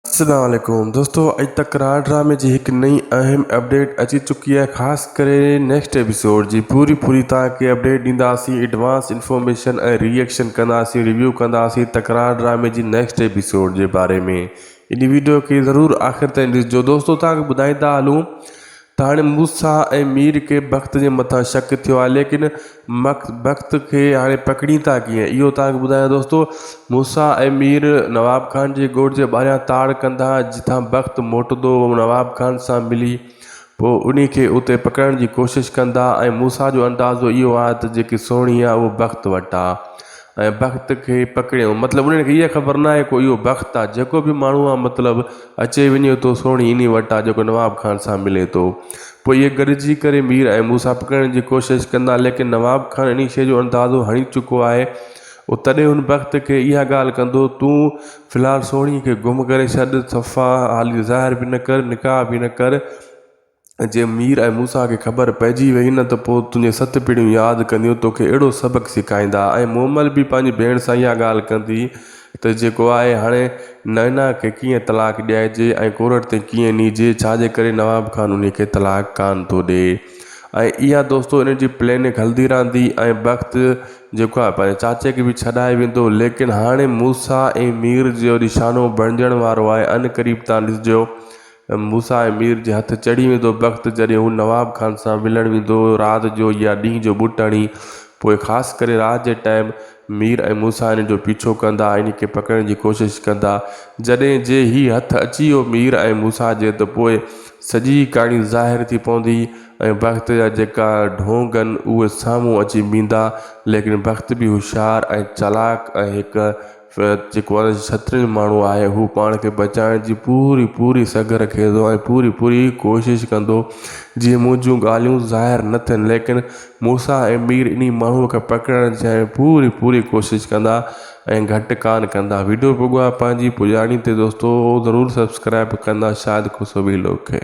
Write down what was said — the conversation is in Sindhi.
السلام عليڪم دوستو اڄ تڪرار ڊرامي جي هڪ نئين اهم اپڊيٽ اچي چڪي آهي خاص ڪري نيڪسٽ ايپيسوڊ جي پوري پوري تان کي اپڊيٽ ڏينداسين ايڊوانس انفارميشن ۽ ري ايڪشن ڪنداسين ريويو ڪنداسين تڪرار ڊرامي جي نيڪسٽ ايپيسوڊ جي باري ۾ انهي ويڊيو کي ضرور آخر تائين ڏسجو دوستو تان کي ٻڌائيندا هلون ته هاڻي موسيٰ ۽ مير کي بخت جي مٿان شڪ ٿيو آهي ليڪن بخت کي هاڻي پڪڙين ٿا ڪيئن اهو توهان کي ٻڌايان دوستو موسيٰ ۽ مير نواب خان جي ڳوٺ جي ٻاهريان تاڙ ڪندا جتان بخت موٽندو نواب خان سان ملي پوء ان کي اتي پڪڙڻ جي ڪوشش ڪندا ۽ موسيٰ جو اندازو اهو آهي ته جيڪي سهڻي آهي اهو بخت وٽ آهي ۽ بخت کي پڪڙيائون مطلب انهن کي اها خبر نه آهي ڪو اهو بخت آهي جيڪو به ماڻهو آهي مطلب اچي وڃي ٿو سهڻي انهي وٽ آهي جيڪو نواب خان سان ملي ٿو پوء اهي گڏجي ڪري مير ۽ موسيٰ پڪڙڻ جي ڪوشش ڪندا ليڪن نواب خان انهي شيء جو اندازو هڻي چڪو آهي او تڏهن هن بخت کي اها ڳالهه ڪندو تون في الحال سهڻي کي گم ڪري ڇڏ صفا حالي ظاهر به نه ڪر نڪاح به نه ڪر جي مير ۽ موسيٰ کي خبر پئجي ويئي نه ته پوء تنهنجون ست پيڙهيون ياد ڪنديون توکي اهڙو سبق سيکائيندا ۽ مومل به پنهنجي ڀيڻ سان اها ڳالهه ڪندي ته جيڪو آهي هاڻي نائنا کي ڪيئن طلاق ڏيائجي ۽ ڪورٽ تي ڪيئن نيجي ڇا جي ڪري نواب خان انهي کي طلاق ڪانه ٿو ڏي ۽ اها دوستو انهن جي پليننگ هلندي رهندي ۽ بخت جيڪو آهي پنهنجي چاچي کي به ڇڏائي ويندو ليڪن هاڻي موسيٰ ۽ مير جو نشانو بڻجڻ وارو آهي ان قريب تان ڏسجو موسيٰ ۽ مير جي هٿ چڙهي ويندو بخت جڏهن هو نواب خان سان ملڻ ويندو هو رات جو يا ڏينهن جو ٻوٽ هڻي پوء خاص ڪري رات جي ٽائيم مير ۽ موسيٰ هن جو پيڇو ڪندا ۽ هن کي پڪڙڻ جي ڪوشش ڪندا جڏهن جي هي هٿ اچي ويو مير ۽ موسيٰ جي ته پوء سڄي ڪهاڻي ظاهر ٿي پوندي ۽ بخت جا جيڪا ڍونگ هن اهي سامهون اچي بيهندا ليڪن بخت به هوشيار ۽ چالاڪ ۽ هڪ فهد جيڪو هن جي سترين ماڻهو آهي هو پاڻ کي بچائڻ جي پوري پوري سگهه رکي ٿو ۽ پوري پوري ڪوشش ڪندو جيئن منهنجون ڳالهيون ظاهر نه ٿين ليڪن موسيٰ ۽ مير انهي ماڻهو کي پڪڙڻ جي پوري پوري ڪوشش ڪندا ۽ گهٽ ڪانه ڪندا ويڊيو پڳو آهي پنهنجي پڄاڻي تي دوستو ضرور سبسڪرائب ڪندا شاهد کوسوي لوگ کي.